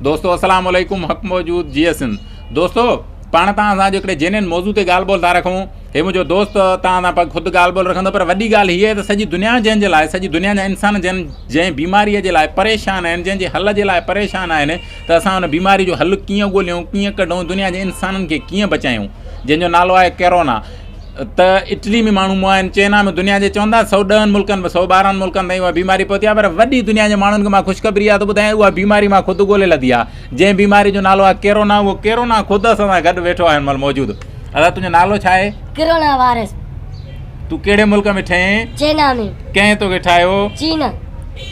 دوستو السلام عليڪم حق موجود جيئي سنڌ دوستو پاڻ تان سان جو کڙي جينين موضوع تي گال بول تھا رکون هي منهنجو دوست تان سان پگ خود گال بول رکندو پر وڏي گال هي ته سڄي دنيا جنهن جي لاء سڄي دنيا جا انسان جن جنهن بيماري جي لاء پريشان آهن جنهن جي حل جي لاء پريشان آهن ته اسان ان بيماري جو حل ڪيئن ڳوليون ڪيئن ڪڍون دنيا جي انسانن کي ڪيئن بچايون جنهن جو نالو آهي ڪرونا ته اٽلي ۾ ماڻهو مئا آهن، چئنا ۾ دنيا جي چون ٿا سؤ ڏهن ملڪن ۾ سؤ ٻارهن ملڪن تائين اها بيماري پهتي آهي پر وڏي دنيا جي ماڻهن کي مان خوشخبري اها ٿو ٻڌايان اها بيماري مان خود ڳولي لڌي آهي جنهن بيماري جو نالو آهي ڪيرونا اهو ڪيرونا خود اسان سان گڏ ويٺو آهي هن مهل موجود ادا تنهنجو نالو ڇا آهي؟ ڪيرونا وائرس تون ڪهڙي ملڪ ۾ ٺهين؟ چئنا ۾ ڪنهن توکي ٺاهيو؟ چين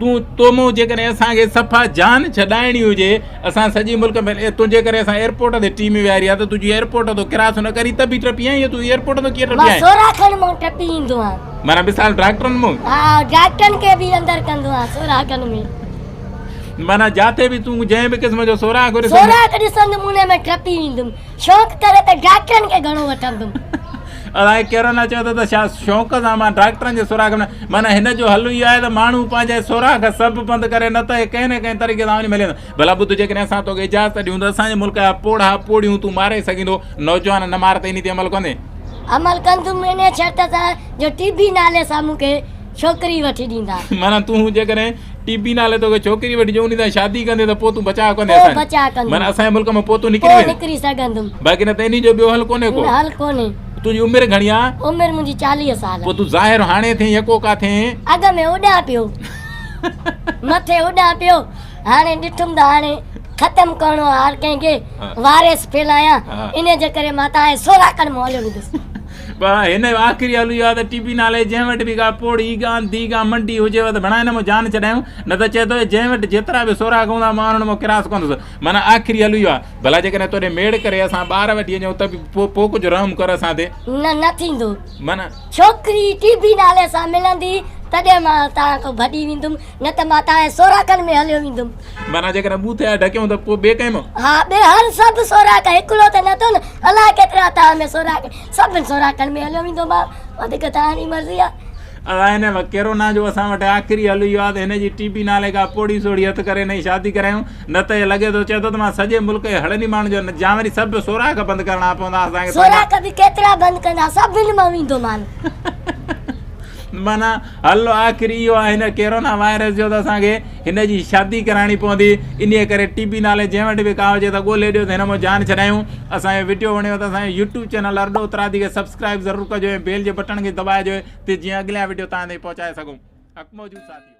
تون تو مون جيڪڏهن اسان کي صفا جان ڇڏائڻي هجي اسان سڄي ملڪ ۾ تنهنجي ڪري اسان ايئرپورٽ تي ٽيم ويهاري آ ته تنهنجي ايئرپورٽ تو ڪراس نه ڪري ته به ٽپي آئين يا تون ايئرپورٽ تو ڪيئن ٽپي آئين مان سورا کن مون ٽپي ايندو آ مانا مثال ڊاڪٽرن مون ها ڊاڪٽرن کي به اندر ڪندو آ سورا کن ۾ مانا جاٿي به تون جنهن به قسم جو سورا کن ڏسندي سورا کن ڏسندي مون ۾ ٽپي ايندم شوق ڪري ته ڊاڪٽرن کي گهڻو وٺندم. الاهي ڪهڙو نه چئي ٿو ته ڇا شوق سان مان ڊاڪٽرن جي سوراخ ۾ معنيٰ هن جو حل اهو آهي ته ماڻهو پنهنجي سوراخ سڀ بند ڪري نه ته هي ڪنهن نه ڪنهن طريقي سان وڃي ملي ويندو. ڀلا ٻڌ جيڪڏهن اسان توکي اجازت ڏيون ته اسان جي ملڪ جا پوڙها پوڙهيون تون ماري سگهيندو. نوجوان نه مار ته انهي تي عمل ڪندين. عمل ڪندم انهي شرط سان جو ٽي بي نالي سان مون کي ڇوڪري وٺي ڏيندا. معنيٰ تون جيڪڏهن ٽي پي نالي توکي ڇوڪري وٺي جو انهي سان شادي ڪندين ته پوء تون بچاء ڪندين اسان جو. پوء بچاء ڪندين. معنيٰ اسان جي ملڪ مان پوء تون نڪري پوء ويندين. نڪري سگهندم. باقي نه ته انهي جو ٻيو حل ڪونهي ڪو. نه حل ڪونهي. تنهنجي عمر گهڻي آ؟ عمر منهنجي چاليهه سال. پوء تون ظاهر هاڻي ٿين يا ڪو ڪا ٿين؟ اڳ ۾ اڏان پيو. مٿي اڏان پيو. هاڻي ڏٺم ته هاڻي ختم ڪرڻو آ هر ڪنهن کي. ها. واريس ڦيلايان. ها. انهي جي ڪري مان تانهن جي سوراخن مان هليو ويندس. پر هن جو آخري حل اهو آهي ته ٽي پي نالي جنهن وٽ به ڪا پوڙهي، گانڌي، ڪا منڊي هجيو ته ڀڻا هن مان جان ڇڏايون، نه ته چئي ٿو جنهن وٽ جيترا به سوراخ هوندا مان انهن مان ڪراس ڪندس. معنيٰ آخري حل اهو آهي. ڀلا جيڪڏهن توڏي ميڙ ڪري اسان ٻار وٺي اچون ته به پوء پوء ڪجهه رحم ڪر اسان تي. نه نه ٿيندو. معنيٰ. ڇوڪري ٽي پي نالي سان ملندي تڏهن مان توهان کان ڀڄي ويندم، نه ته مان توهان جي سوراخن ۾ هليو ويندم. معنيٰ جيڪڏهن ٻوٿ يا ڍڪيون ته پوء ٻئي ڪنهن مان؟ ها ٻئي هر سڀ سوراخ هڪڙو ته نه ٿو نه الاء ڪيترا تان ۾ سوراخ سڀن سوراخن ۾ هليو ويندو ماء وڌيڪ توهان جي مرضي آ. ادا هن وقت ڪيرونا جو اسان وٽ آخري حل اهو آ ته هن جي ٽي پي نالي ڪا پوڙهي سوڙهي هٿ ڪري هن جي شادي ڪرايون نه ته هي لڳي ٿو چئي ٿو ته مان سڄي ملڪ جي هڙن ئي ماڻهن جو نه جيان وري سڀ سوراخ بند ڪرڻا پوندا اسان کي پنهنجا سوراخ به ڪيترا بند ڪندا سڀن مان ويندو مان. معنيٰ حل آخر اهو آهي هن ڪيرونا وائرس جو ته اسان کي هن جي شادي ڪرائڻي پوندي انهي ڪري ٽي بي نالي جنهن وٽ به ڪا هجي ته ڳولي ڏيو ته هن مون جان ڇڏايون اسان جو وڊيو وڻيو ته اسان جو يوٽيوب چينل ارڏو اترادي کي سبسڪرائيب ضرور ڪجو ۽ بيل جي بٽڻ کي دٻائجو ته جيئن اڳليان وڊيو توهان تائين پهچائي سگهون اڪ موجود ساٿيو